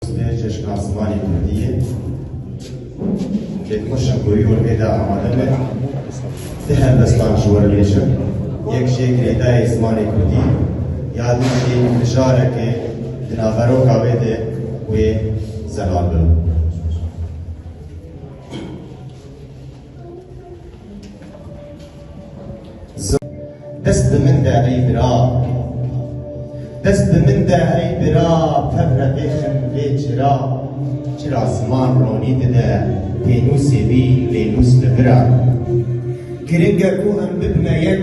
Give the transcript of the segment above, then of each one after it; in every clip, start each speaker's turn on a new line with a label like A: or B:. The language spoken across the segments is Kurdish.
A: Sibê Çeşna Zimanê Kurdiyê têkoşa ku wî olmê de amade be ti helbestan ji we bêjim. Yek jê girêdayê zimanê Kurdî ya din jî mijareke di naveroka wê de wê zelal bin. Dest bi min de ey bira. Dest bi min de ey bira tevre bêxin vê çira. Çira ziman ronî dide pênûsê wî lê nûs bi vir a. Giring e ku em bibine yek.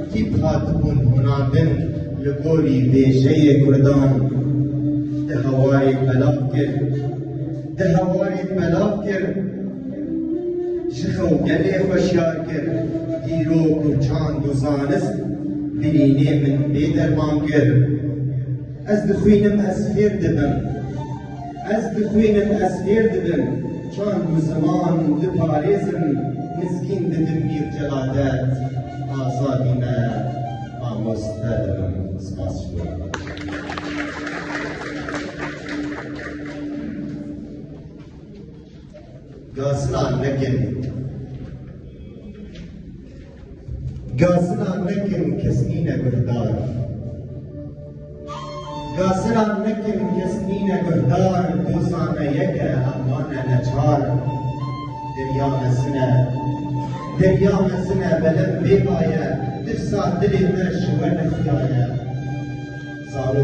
A: Tîp hatibûn hunandin li gorî bêjeyê kurdan di hewarê belav kir. Di hewarê belav kir ji xew gelê xweşyar kir. Dîrok û çand û zanist birînê min bêderman kir. Ez dixwînim ez fêr dibim. Ez dixwînim, ez fêr dibim, çand û ziman diparêzim, mizgîn dibim pîr celadet, azadî me mamoste dibim. Spas ji wan. Gazina nekin. Gazina nekin kes nîne guhdar. Gazina nekin kes nîne guhdar, dozane yeke hemane neçar. Derya mezine, derya mezine belem bêbaye, tirsa dilê me ji we nexyaye. Zarok